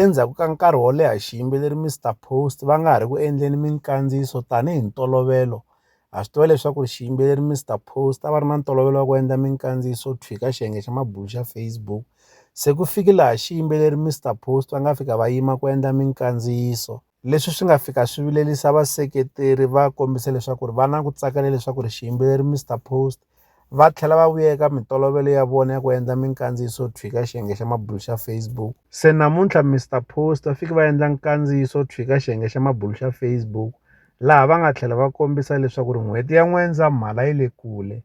Endzhaku ka nkarhi wo leha xiyimbeleri Mister Post va nga ha ri ku endleni minkandziyiso tanihi ntolovelo ha swi tiva leswaku ri xiyimbeleri Mister Post a va ri na ntolovelo wa ku endla minkandziyiso tshwika xiyenge xa mabulo xa Facebook se ku fike laha xiyimbeleri Mister Post va nga fika va yima ku endla minkandziyiso leswi swi nga fika swi vilerisa vaseketeri va kombisa leswaku ri va na ku tsakela leswaku ri xiyimbeleri Mister Post va tlhela va vuya eka mintolovelo ya vona ya ku endla minkandziyiso yo tshwika xiyenge xa mabulu xa Facebook se namuntlha Mister Post va fike va endla nkandziyiso wo tshwika xiyenge xa mabulu xa Facebook laha va nga tlhela va kombisa leswaku ri n'hweti ya N'wendzamhala yi le kule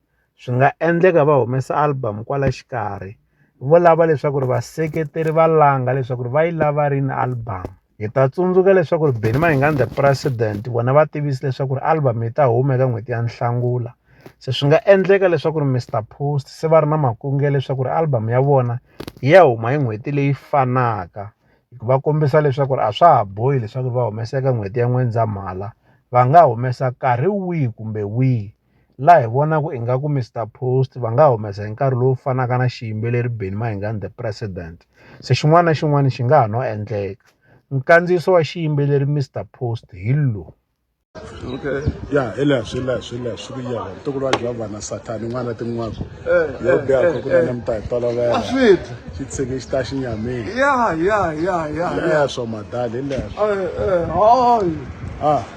swi nga endleka va humesa album kwala xikarhi vo lava leswaku ri vaseketeri va langa leswaku ri va yi lava rini album hi ta tsundzuka leswaku ri beni mahingandza president vona va tivisi leswaku ri album yi ta huma eka n'hweti ya nhlangula se swi nga endleka leswaku ri mr post se va ri na makunge leswaku ri album ya vona yi ya huma hi n'hweti leyi fanaka va kombisa leswaku ri a swa ha bohi leswaku va humesa eka n'hweti ya n'wendzamhala va nga humesa nkarhi wihi kumbe wihi laha hi vonaka ingaku Mister Post va nga humesa hi nkarhi lowu fanaka na xiyimbeleri Benny Mayengani the president se xin'wana na xin'wana xi nga ha no endleka nkandziyiso wa xiyimbeleri Mister Post hi lowu okay ya hi leswi leswi leswi ku ya ntukulu wa jehovha na sathani n'wana tin'waka eh, yo eh, biha ku kuna eh, ni hi tolovela xi tshike xi ta xi nyamile ya ya ya ya leswo madali hi leswo ah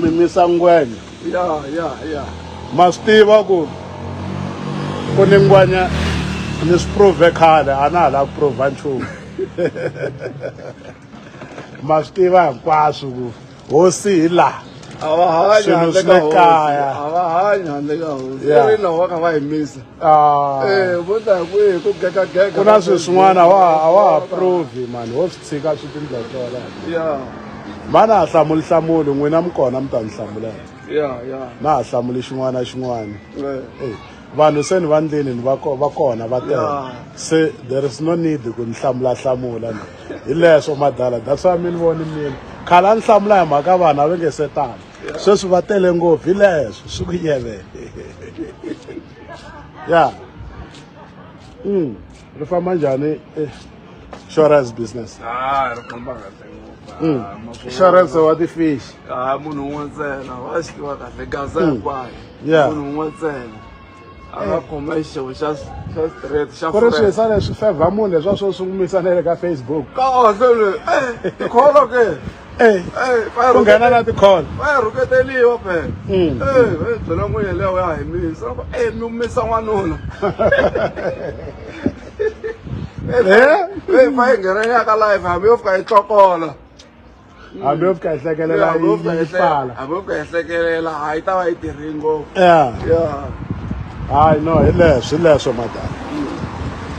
mi misa ngwenya ya ya ya ma swi tiva ku ku ni ngwenya ni swi prove khale a na ha lava ku prova nchumu ma swi tiva hinkwaswo ku hosi hi laha a va hanya handle ka hosi a va hanya handle ka hosi i ri na wa ka va yimisa Ah. Eh, ku na swilo swin'wana a wa ha provi mani wo swi tshika swi tindla swona mani a hlamuli hlamuli n'wina mi kona mi ta ni hlamulaka na ha hlamuli xin'wana na xin'wana eh. eh, vanhu se ni va ndleni ni va kona va tele se there is no need ku ni hlamula hlamula ni hi leswo madala that's why mi ni voni mina khale a ni hlamula hi mhaka vanhu a va nge se tani sweswi va tele ngopfu hi leswo swi ku yeve ya mm ri famba njhani eh, insurance business ah ri famba kahle mm. ah, insurance wa ti-fish ah, munhu un'we ntsena wa swi tiva kahle gaza mm. hinkwayo munhu un'we ntsena a nga khoma xixevo xa straight xa ku ri swi yisana swi fevha munhu leswa swo swi n'wi misa na le ka facebook kahle le tikholo ke ku nghena na tikholo va ya rhuketeliwa phela byela n'wi yeleyo ya hi misa loko e mi misa n'wanuna e fa yi nghenelaka live hambi yo fika yi tlokola hambi yo fika hi hlekelela yi yi pfala hambi yo fika hi hlekelela a yi ta va yi tirhi ngopfu ya ya hayi no hi leswi hi leswo madala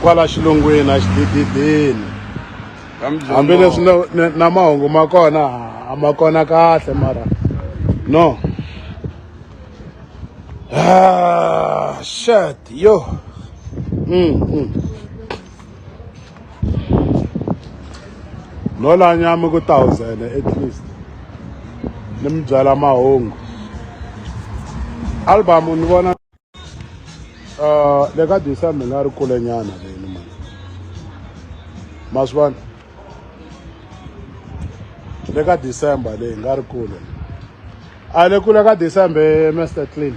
kwala xilungwini a xidididini hambileswi na mahungu ma kona a ma kona kahle mara no ah, shat yo mm, mm. no la nyama ku thousand at least ni mi byala mahungu album ni vona uh, le ka disa mi nga ri kule nyana leni ma ma swi vona le ka december leyi nga ri kule a le kule ka december master clean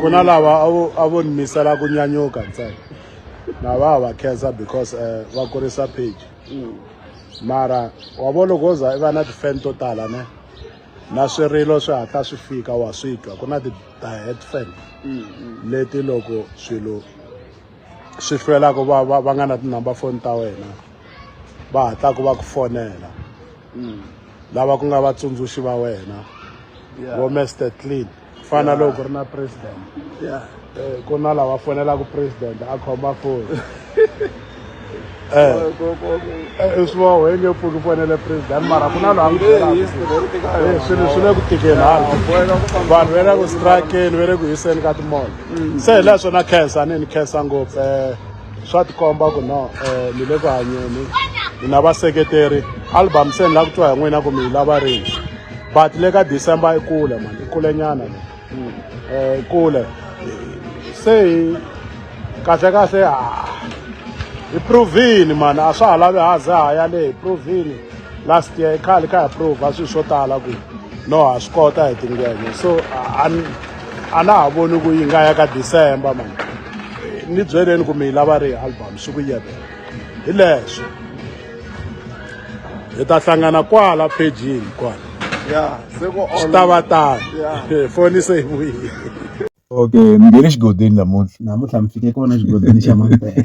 ku na lava a vo ni misela ku nyanyuka ntsena na va va khensa because um va kurisa page mm. mara wa vo loko wo za i va na ti-fan to tala ne na swirilo swi hatla swi fika wa swi twa ku na ti-diet fan mm, mm. leti loko swilo swi hlwelaka va va va nga na tinumber foni ta wena va hatlaka va ku fonela mm. lava ku nga vatsundzuxi va wena vo Mr Clean ku fana na loko ku ri na president eh, ku na lava fonelaka president a khoma foni eh. eh, swi va why nge pfuki fonele president mara ku na loyi a n'wi byelaka eh, swilo swi le ku tikeni hala vanhu va le ku strakeni va le ku hiseni ka timona mm. se hi laha swona khensa ni ni khensa ngopfu um swa tikomba ku no um ni le ku hanyeni ni na vaseketeri album se ni lava ku twa hi n'wina ku mi yi lava rini but le ka december i kule mani i kulenyana le um kule se hi kahlekahle hi provini mani a swa ha lavi ha za ha ya le hi provini last year khale kha hi prova swilo swo tala ku no ha swi kota hi tingenge so a na ha voni ku yi nga ya ka december mani ni byeleni ku mi yi lava ri hi album swi ku yevela hi leswo hi ta hlangana kwala phejini kwala ya se ku swi ta va tano foni se yi vuyile okay ni nge le xigodini namuntlha namuntlha mi fike kona xigodini xa mampela